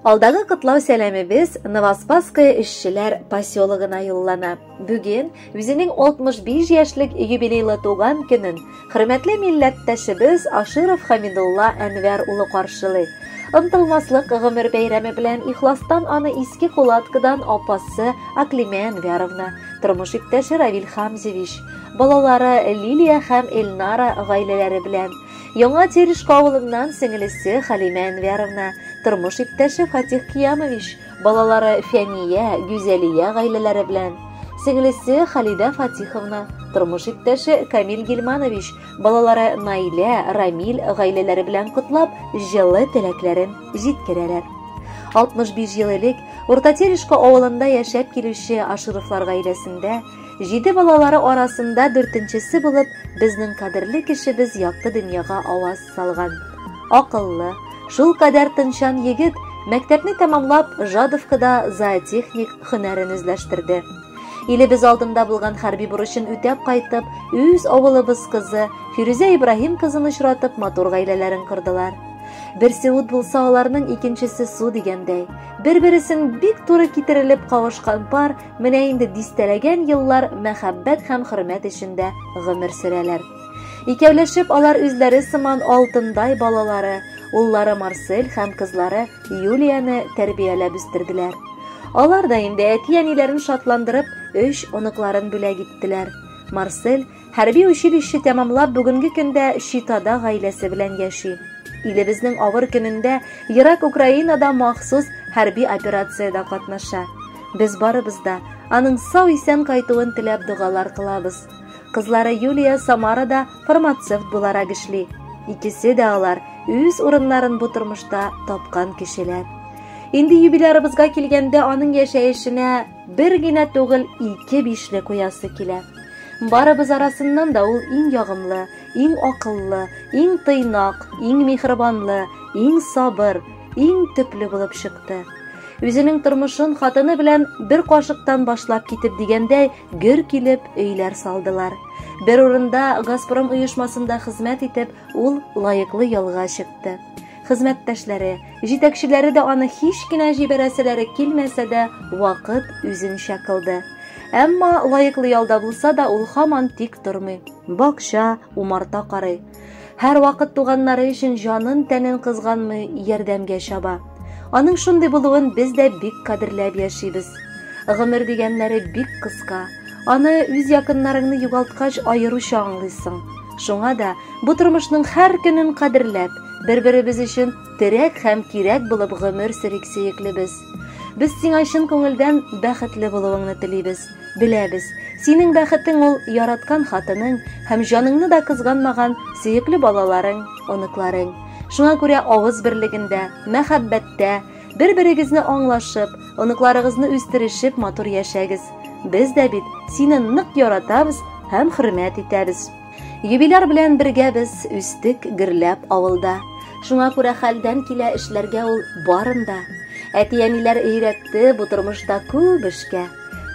Алдагы котлау сәламебез Новоспасское эшчеләр поселогына юллана. Бүген үзенең 65 яшьлек юбилейлы туган көнен хөрмәтле милләттәшебез Аширов Хамидулла Әнвәр улы каршылый. Ынтылмаслык гомер бәйрәме белән ихластан аны иске кулаткадан апасы Аклимә Әнвәровна, тормыш иптәше Равил Хамзевич, балалары Лилия һәм Эльнара гаиләләре белән Яңа Терешка авылыннан сеңелесе Халимә Әнвәровна, тормыш иптәше Фатих Киямович, балалары Фәния, Гүзәлия гаиләләре белән. Сеңелесе Халидә Фатиховна, тормыш иптәше Камил Гилманович, балалары Наилә, Рамил гаиләләре белән котлап, җылы теләкләрен җиткерәләр. 65 ел элек Урта Терешка авылында яшәп килүче Ашировлар гаиләсендә Җиде балалары арасында дүртенчесе булып безнең кадерле кешебез якты дөньяга аваз салган. Акыллы, шул кадәр тынчан егет мәктәпне тәмамлап Жадовкада зоотехник хөнәрен үзләштерде. Илебез алдында булган хәрби бурычын үтәп кайтып, үз авылыбыз кызы Фирүзә Ибраһим кызын очратып, матур гаиләләрен кордылар. Берсе ут булса, аларның икенчесе су дигәндәй. Бер-бересен бик туры китерелеп кавышкан пар Менә инде дистәләгән еллар мәхәббәт һәм хөрмәт эчендә гомер сөрәләр. Икәүләшеп алар үзләре сыман алтындай балалары, уллары Марсель һәм кызлары Юлияне тәрбияләп үстерделәр. Алар да инде әти-әниләрен шатландырып, өч оныкларын бүләк иттеләр. Марсель Хәрби училище тәмамлап, бүгенге көндә Читада гаиләсе белән яши. Илебезнең авыр көнендә ерак Украинада махсус хәрби операциядә катнаша. Без барыбыз да аның сау-исән кайтуын теләп догалар кылабыз. Кызлары Юлия Самарада фармацевт буларак эшли. Икесе дә алар үз урыннарын бу тормышта тапкан кешеләр. Инде юбилярыбызга килгәндә, аның яшәешенә Бер генә түгел, ике бишле куясы килә. Барыбыз арасыннан да ул иң ягымлы, иң акыллы, иң тыйнак, иң михрибанлы, иң сабыр, иң төпле булып чыкты. Үзенең тормышын хатыны белән бер кашыктан башлап китеп дигәндәй, гөр килеп өйләр салдылар. Бер урында Газпром оешмасында хезмәт итеп, ул лаеклы ялга чыкты. хезмәттәшләре, җитәкчеләре дә аны һич кенә җибәрәселәре килмәсә дә, вакыт үзенчә кылды. Әмма лаеклы ялда булса да ул хаман тик тормый. Бакча, умарта карый. Һәр вакыт туганнары өчен җанын тәнен кызганмый ярдәмгә чаба. Аның шундый булуын без дә бик кадерләп яшибез. Гомер дигәннәре бик кыска. Аны үз якыннарыңны югалткач аеруча аңлыйсың. Шуңа да Бу тормышның һәр көнен кадерләп, бер-беребез өчен терәк һәм кирәк булып гомер сөрик сөеклебез. Без сиңа чын күңелдән бәхетле булуыңны телибез. Беләбез, синең бәхетең ул яраткан хатының һәм җаныңны да кызганмаган сөекле балаларың, оныкларың. Шуңа күрә авыз берлегендә, мәхәббәттә, бер-берегезне аңлашып, оныкларыгызны үстерешеп матур яшәгез. Без дә бит сине нык яратабыз һәм хөрмәт итәбез. Юбиляр белән бергә без үстек гөрләп авылда. Шуңа күрә хәлдән килә эшләргә ул барын да. Әти-әниләр өйрәтте бу тормышта күп эшкә.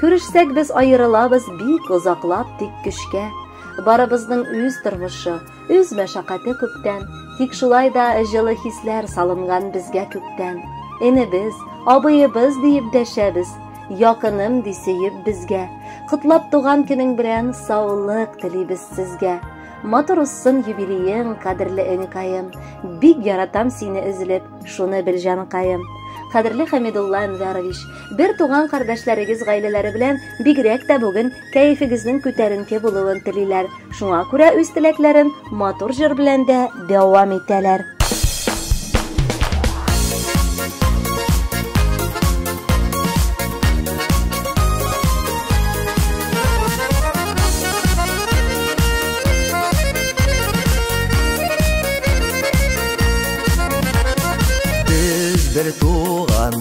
Күрешсәк без аерылабыз бик озаклап тик көчкә. Барыбызның үз тормышы, үз мәшәкате күптән. Тик шулай да җылы хисләр салынган безгә күктән. Энебез, абыебыз диеп дәшәбез. Якыным ди сөеп безгә. Котлап туган көнең белән саулык телибез сезгә. Матур узсын юбилеең, кадерле энекаем. Бик яратам сине өзелеп, шуны бел җанкаем. Кадерле Хәмидулла Әнвәрович, бер туган кардәшләрегез гаиләләре белән бигрәк тә бүген кәефегезнең күтәренке булуын телиләр. Шуңа күрә үз теләкләрен матур җыр белән дә дәвам итәләр.